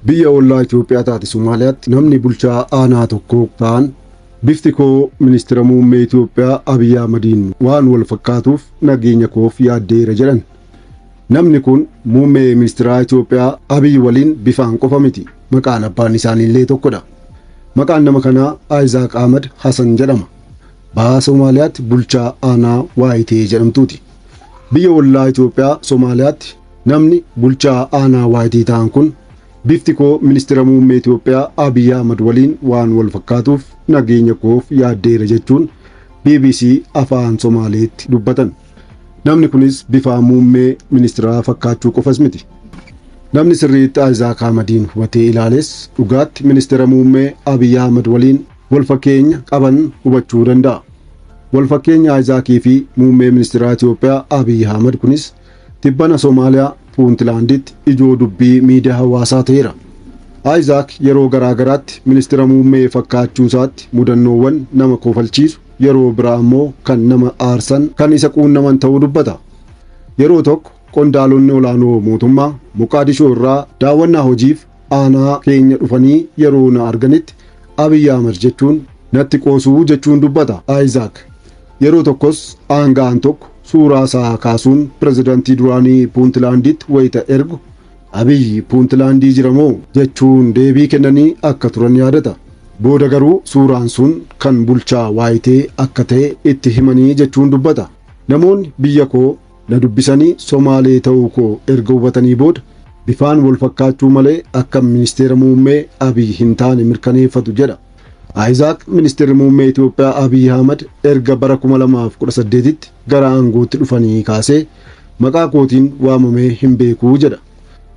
Biyya ollaa Itoophiyaa taate Somaaliyaatti namni bulchaa aanaa tokko ta'an bifti koo ministira muummee Itoophiyaa Abiyyi Ahmadiin waan wal fakkaatuuf nageenya koof yaaddeera jedhan. Namni kun muummee ministiraa Itoophiyaa Abiy waliin bifaan qofa miti. Maqaan abbaan isaaniillee tokkodha. Maqaan nama kanaa Ayizaaq Ahmad Hasan jedhama. Baha Somaaliyaatti bulchaa aanaa Waayitee jedhamtuuti. Biyya ollaa Itoophiyaa Somaaliyaatti namni bulchaa aanaa Waayitee ta'an kun bifti koo ministira muummee Itoophiyaa Abiy Ahmad waliin waan wal fakkaatuuf nageenya koof yaaddeera jechuun bbc Afaan Somaaleetti dubbatan. Namni kunis bifaa muummee ministiraa fakkaachuu qofas miti. Namni sirriitti Ayizaak Ahmadiin hubatee ilaales dhugaatti ministeera muummee Abiy Ahmad waliin wal fakkeenya qaban hubachuu danda'a. Wal fakkeenya Ayizaakii fi muummee ministiraa Itoophiyaa Abiy Ahmad kunis tibbana Somaaliyaa Puuntilaanditti ijoo dubbii miidiyaa hawaasaa ta'eera. Ayizaak yeroo garaa garaatti ministeera muummee fakkaachuu isaatti mudannoowwan nama kofalchiisu Yeroo biraa ammoo kan nama aarsan kan isa quunnaman ta'uu dubbata. Yeroo tokko qondaalonni olaanoo mootummaa Moqaadishoo irraa daawwannaa hojiif aanaa keenya dhufanii yeroo na arganitti Abiy Ahmed jechuun natti qoosuu jechuun dubbata Ayizaak. Yeroo tokkos aanga'aan tokko suuraa isaa kaasuun pirezidantii duraanii Puuntilaanditti wayita ergu Abiy Puuntilaandii jira moo? jechuun deebii kennanii akka turan yaadata. Booda garuu suuraan sun kan bulchaa Waayitee akka ta'e itti himanii jechuun dubbata. Namoonni biyya koo na dubbisanii Somaalee ta'uu koo erga hubatanii booda bifaan wal fakkaachuu malee akkan ministeera muummee Abiy hin taane mirkaneeffatu jedha. Ayizaak ministeerri muummee Itoophiyaa Abiy Ahmad erga bara 2018tti gara aangootti dhufanii kaasee Maqaa kootiin waamamee hin beeku jedha.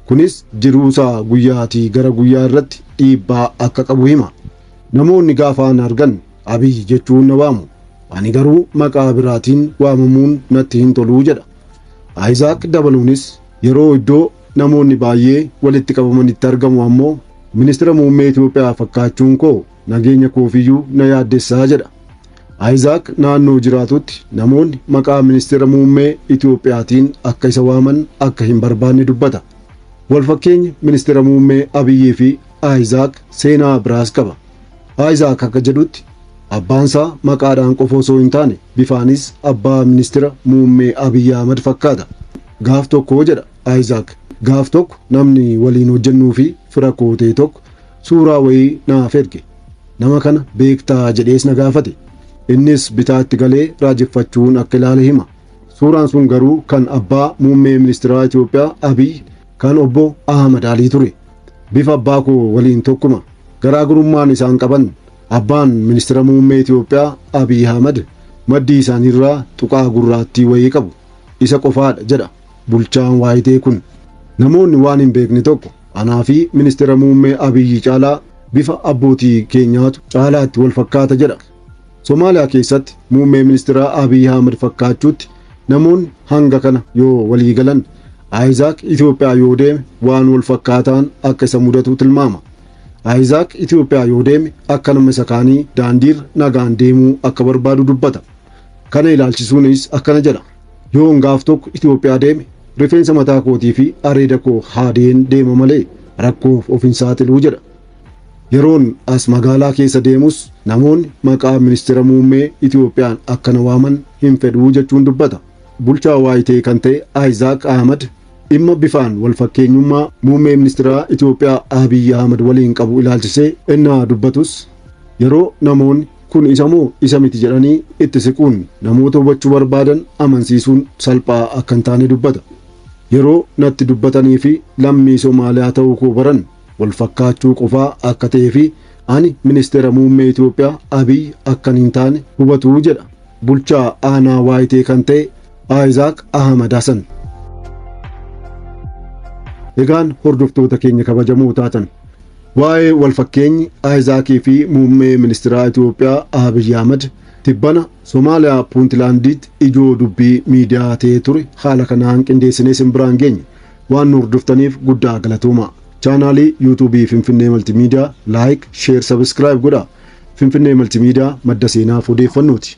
Kunis jiruusaa guyyaatii gara guyyaa irratti dhiibbaa akka qabu hima. Namoonni gaafa na argan Abiy jechuun na waamu. Ani garuu maqaa biraatiin waamamuun natti hin tolu jedha. Ayizaak dabaluunis yeroo iddoo namoonni baay'ee walitti qabamanitti argamu ammoo Ministira Muummee Itoophiyaa fakkaachuun koo nageenya koofiyyuu na yaaddessaa jedha. Ayizaak naannoo jiraatutti namoonni maqaa ministeera muummee Itoophiyaatiin akka isa waaman akka hin barbaanne dubbata. Walfakkeenyi ministeera muummee Abiyyii fi Ayizaak seenaa biraas qaba. Ayizaak akka jedhutti abbaansaa maqaadhaan qofa osoo hin taane bifaanis abbaa ministeera muummee Abiyyi Ahmad fakkaata. Gaaf tokko jedha Ayizaak gaaf tokko namni waliin hojjennuu fi fira kootee tokko Suuraa wayii naaf ergi. Nama kana beektaa jedhees na gaafate. Innis bitaatti galee raajeffachuun akka ilaale hima. Suuraan sun garuu kan abbaa muummee ministiraa Itoophiyaa Abiy kan obbo Ahmad Alii ture. Bifa abbaa koo waliin tokkuma. Garaagarummaan isaan qaban abbaan ministira muummee Itoophiyaa Abiy Ahmad maddii isaaniirraa tuqaa gurraattii wayii qabu. Isa qofaadha jedha bulchaan waayitee kun. Namoonni waan hin beekne tokko Anaa fi Ministeera Muummee Abiyyi caalaa bifa abbootii keenyaatu caalaatti wal fakkaata jedha. Somaaliyaa keessatti muummee ministeeraa Abiyyi Ahmed fakkaachuutti namoonni hanga kana yoo walii galan Ayizaak Itoophiyaa yoo deeme waan wal fakkaataan akka isa mudatu tilmaama. Ayizaak Itoophiyaa yoo deeme akka nama isa kaanii daandiirra nagaan deemuu akka barbaadu dubbata. Kana ilaalchisuunis akkana jedha. Yoon gaaf tokko Itoophiyaa deeme rifeensa mataa kootii fi areeda koo haadeen deema malee rakkoof of hin saaxilu jedha. Yeroon as magaalaa keessa deemus namoonni maqaa ministeera muummee Itoophiyaan akka na waaman hin fedhu jechuun dubbata. Bulchaa Waayitee kan ta'e Ayizaak Ahmad dhimma bifaan wal fakkeenyummaa muummee ministeeraa Itoophiyaa Abiy Ahmad waliin qabu ilaalchisee ennaa dubbatus yeroo namoonni Kun isa moo isa miti jedhanii itti siquun namoota hubachuu barbaadan amansiisuun salphaa akka hin taane dubbata. Yeroo natti dubbatanii fi lammii Somaaliyaa ta'uu koo baran wal fakkaachuu qofaa akka ta'ee fi ani Ministeera Muummee Itoophiyaa Abiy akkan hin taane hubatu jedha bulchaa aanaa Waayitee kan ta'e Aayizaak Ahmad Hasan. Egaan hordoftoota keenya kabajamoo taatan Waa'ee walfakkeenyi Ayizaakii fi muummee ministiraa Itoophiyaa Abiy Ahmad tibbana Somaaliyaa Puuntilaandiitti ijoo dubbii miidiyaa ta'ee ture haala kanaan qindeessinee isin biraan geenye. Waan nu hordoftaniif guddaa galatooma. Chaanaalii yuutuubii Finfinnee Maltimiidiyaa laayik, sheer, sabiskiraayib godhaa. Finfinnee Maltimiidiyaa madda seenaaf odeeffannooti.